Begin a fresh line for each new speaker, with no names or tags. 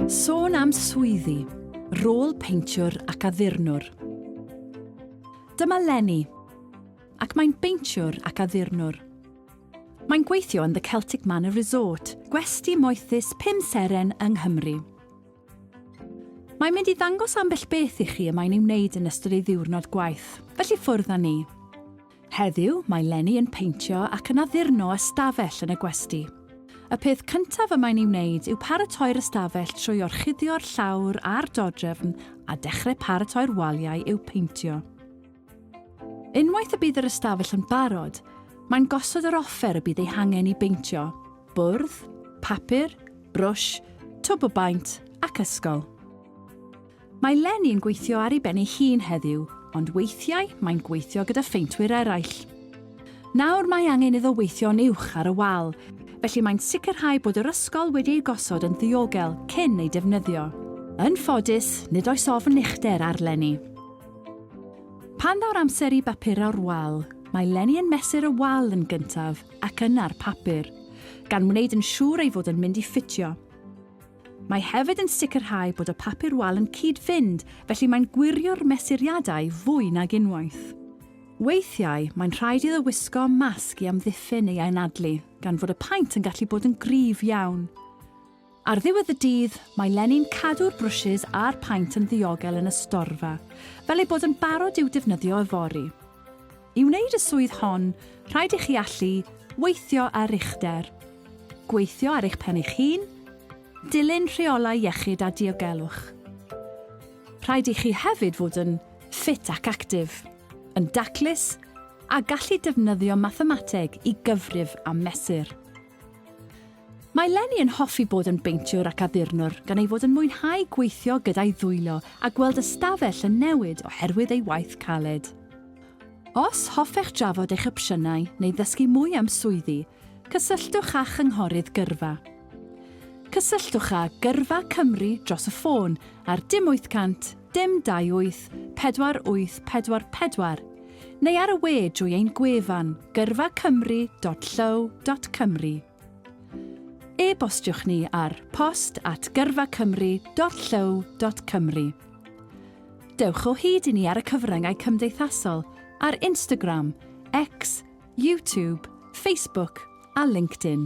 Sôn am swyddi, rôl peintiwr ac addurnwr. Dyma Lenny, ac mae'n beintiwr ac addurnwr. Mae'n gweithio yn The Celtic Manor Resort, gwesti moethus pum seren yng Nghymru. Mae'n mynd i ddangos ambell beth i chi y mae'n ei wneud yn ystod ei ddiwrnod gwaith, felly ffwrdd â ni. Heddiw, mae Lenny yn peintio ac yn addurno ystafell yn y gwesty. Y peth cyntaf y mae'n ei wneud yw paratoi'r ystafell trwy orchuddio'r llawr a'r dodrefn a dechrau paratoi'r waliau i'w peintio. Unwaith y bydd yr ystafell yn barod, mae'n gosod yr offer y bydd ei hangen i beintio, bwrdd, papur, brwsh, twb o baent ac ysgol. Mae Leni yn gweithio ar ei ben ei hun heddiw, ond weithiau mae'n gweithio gyda pheintwyr eraill. Nawr mae angen iddo weithio'n uwch ar y wal, felly mae'n sicrhau bod yr ysgol wedi ei gosod yn ddiogel cyn ei defnyddio. Yn ffodus, nid oes ofn uchder ar Leni. Pan ddaw'r amser i bapurau'r wal, mae Leni yn mesur y wal yn gyntaf ac yna'r papur, gan wneud yn siŵr ei fod yn mynd i ffitio. Mae hefyd yn sicrhau bod y papur wal yn cyd-fynd, felly mae'n gwirio'r mesuriadau fwy nag unwaith. Weithiau, mae'n rhaid iddo wisgo masg i amddiffyn ei anadlu, gan fod y paent yn gallu bod yn gryf iawn. Ar ddiwedd y dydd, mae Lenny'n cadw'r brwshys a'r paent yn ddiogel yn y storfa, fel eu bod yn barod i'w defnyddio yfory. I wneud y swydd hon, rhaid i chi allu weithio ar uchder, gweithio ar eich pen eich hun, dilyn rheolau iechyd a diogelwch. Rhaid i chi hefyd fod yn ffit ac actif, yn daclus a gallu defnyddio mathemateg i gyfrif a mesur. Mae Lenny yn hoffi bod yn beintiwr ac addurnwr gan ei fod yn mwynhau gweithio gyda'i ddwylo a gweld ystafell yn newid oherwydd ei waith caled. Os hoffech drafod eich opsiynau neu ddysgu mwy am swyddi, cysylltwch â Chynghorydd Gyrfa. Cysylltwch â Gyrfa Cymru dros y ffôn ar dim 800 Dim 28444 neu ar y we drwy ein gwefan gyrfacymru.llyw.cymru. E-bostiwch ni ar post at gyrfacymru.llyw.cymru. Dewch o hyd i ni ar y cyfryngau cymdeithasol ar Instagram, X, YouTube, Facebook a LinkedIn.